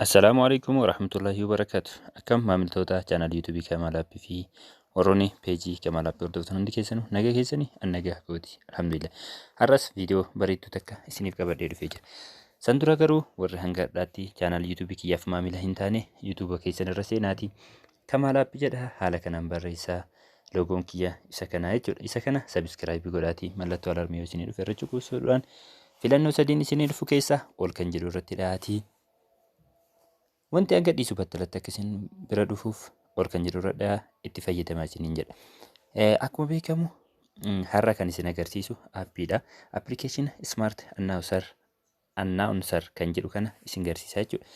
Assalaamu alaikum warahmatullahi wabarakatuh. Akkam maamiltoota chaanal YouTube Kamaal App fi warroonni peejii Kamaal App hordoftan hundi keessanu nagaa keessani an nagaa kooti alhamdulillah. Har'as viidiyoo bareedduu takka isiniif qabadhee dhufee jira. San dura garuu warri hanga har'aatti chaanal YouTube kiyyaaf maamila hin taane YouTube keessan irra seenaati Kamaal App jedha haala kanaan barreessaa. Loogoon kiyya isa kanaa jechuudha. Isa kana sabiskiraayibii godhaatii mallattoo alarmii yoo isinii dhufe irra cuquusuudhaan filannoo sadiin isinii dhufu keessaa ol kan jedhu irratti dhahaatii. Wanti hanga dhiisu battalatti akka isin bira dhufuuf ol kan jedhu irra dhahaa itti fayyadamaa isiniin jedha. Eh, Akkuma beekamu mm, har'a kan isin agarsiisu appiidha. Appilikeeshina Smart Announcer announcer kan jedhu kana isin garsiisa jechuudha.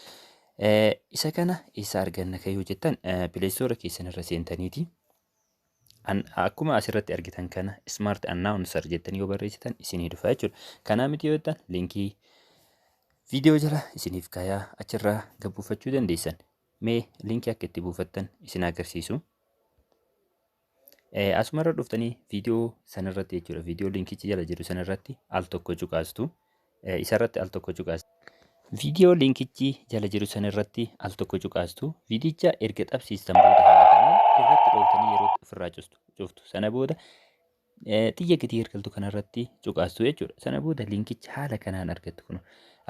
Eh, Isa kana eessa arganna kan yoo jettan pileestoora keessan irra seentaniiti. An- Akkuma asirratti argitan kana smart announcer jettanii yoo barreessitan isinii dhufa jechuudha. Kanaa miti yoo jettan linkii viidiyoo jala isiniif kaayaa achirraa gad buufachuu dandeessan. Mee linkii akka itti buufattan isin agarsiisu. Eh, Asuma irra dhuftanii viidiyoo sana irratti jechuudha. Viidiyoo linkichi jala jiru sana irratti al tokko cuqaastu. Eh, Isa irratti al tokko cuqaastu. Viidiyoo linkichi jala jiru sana irratti al tokko cuqaastu. Viidiyicha erga qabsiistan booda haala kanaan irratti dhooftanii yeroo itti ofirraa custu- cuftu. Sana booda eh, xiyya gadi ergaltu kana irratti cuqaastu jechuudha. Sana booda linkicha haala kanaan argattu kun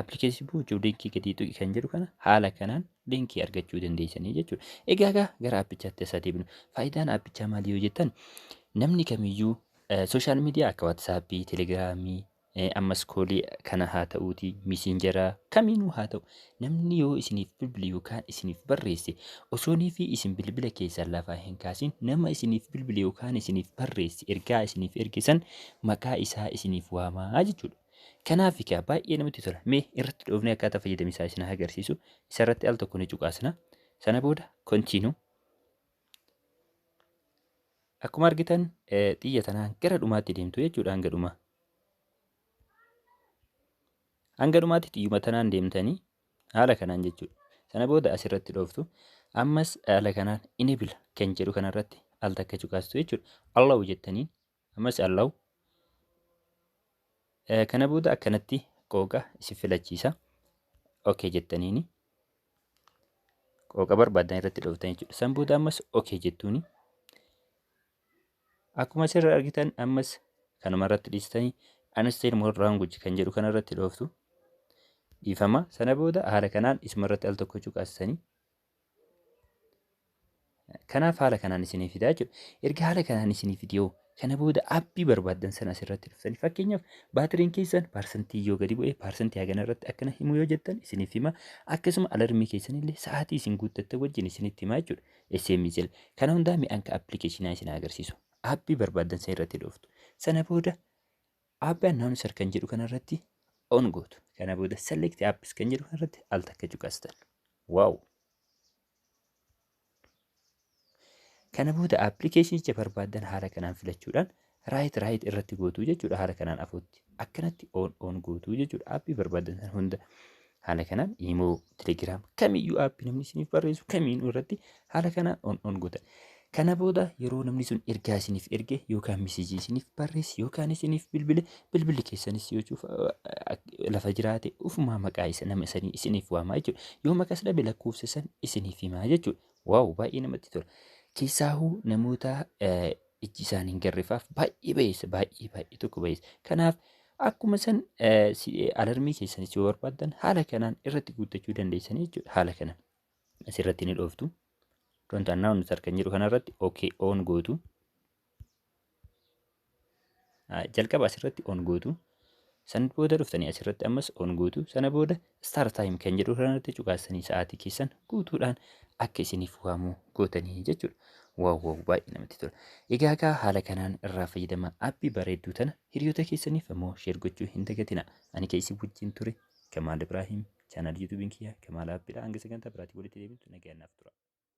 appilikeeshinii buuchuuf linkii gadii tuqi kan jedhu kana haala kanaan linkii argachuu dandeessanii jechuudha. Egaa egaa gara aappichaatti as adeemnu. Faayidaan aappichaa maali yoo jettan namni kamiyyuu sooshaal miidiyaa akka waatsaappii, telegiraamii, ammas koolii kana haa ta'uuti miisinjaraa kamiinuu haa ta'u namni yoo isiniif bilbile yookaan isiniif barreesse osoonii fi isin bilbila keessan lafaa hin kaasin nama isiniif bilbile yookaan isiniif barreesse ergaa isiniif ergisan maqaa isaa isiniif waamaa jechuudha. Kanaaf egaa baay'ee namatti tola. Mee irratti dhoofnee akkaataa fayyadama isaa isin agarsiisu. Isa irratti al tokko ni cuqaasna. Sana booda kontiinuu. Akkuma argitan xiyya tanaan gara dhumaatti deemtu jechuudha hanga dhumaa. Hanga dhumaatti xiyyuma tanaan deemtanii haala kanaan jechuudha. Sana booda asirratti dhooftu. Ammas haala kanaan inibila kan jedhu kanarratti al takka cuqaastu jechuudha. Allahu jettanii Ammas Allahu Eh, kana booda akkanatti qooqa isin filachiisa. Okay jettaniini. Qooqa barbaadan irratti dhooftan jechuudha. San booda ammas okay jettuuni. Akkuma asirra argitan ammas kanuma irratti dhiistanii Unstyle More Language kan jedhu kana irratti dhooftu. Dhiifama. Sana booda haala kanaan isuma irratti al tokko cuqaasisanii Kanaaf haala kanaan isinii fidaa jechuudha. Erga haala kanaan isinii fidee kana booda appii barbaaddan sana asirratti dhuftanii fakkeenyaaf baatiriin keessan paarsantii yoo gadi bu'e paarsantii hagana irratti akkana himu yoo jettan isiniif hima akkasuma alarmii keessan illee sa'aatii isin guuttattan wajjin isinitti hima jechuudha. SMS jala kana hundaa mi'aan ka appilikeeshinaa isin agarsiisu appii barbaaddan sana irratti dhuftu sana booda appii annaawunser kan jedhu kanarratti on gootu kana booda select apps kan jedhu kanarratti al takka cuqastan. Wow! Kana booda appilikeeshinicha barbaaddan haala kanaan filachuudhaan raayit raayit irratti gootuu jechuudha haala kanaan afuutti. Akkanatti oon oon gootuu jechuudha aappii barbaaddan sana hunda. Haala kanaan imoo, telegiraam kamiyyuu aappii namni isiniif barreessu kamiinuu irratti Haala kana on on godha. Kana booda yeroo namni sun ergaa isiniif erge yookaan misijii isiniif barreesse yookaan isiniif bilbile bilbilli keessanis yoo cufa lafa jiraate ufumaa maqaa isa nama isanii isiniif waamaa jechuudha. Yoo maqas dhabe lakkoofsa san isiniif himaa jechuudha. Waaw baay'ee namatti tola. Keessaahuu namoota ijji isaan hin garrefaaf baay'ee bayeessa baay'ee baay'ee tokko bayeessa. Kanaaf akkuma san alarmii keessanis yoo barbaaddan haala kanaan irratti guuttachuu dandeessanii jechuudha haala kanaan. asirratti ni dhooftu. Don't announce kan jedhu kanarratti OK on gootu. Jalqaba asirratti on gootu. Sana booda dhuftanii asirratti ammas on gootu. Sana booda start time kan jedhu kanarratti cuqaasanii sa'aatii keessan guutuudhaan akka isiniif waamu gootanii jechuudha. Waaw waaw baay'ee namatti tola. Egaa egaa haala kanaan irraa fayyadama appii bareedduu tana hiriyoota keessaniif ammoo sheer gochuu hin dagatina. Ani keessi wajjin ture Kamaal Ibraahim. Chaanaalii YouTube'n kiyya Kamaal Appidha. Hanga sagantaa biraatiin walitti deebinutti nagayaan naaf tura.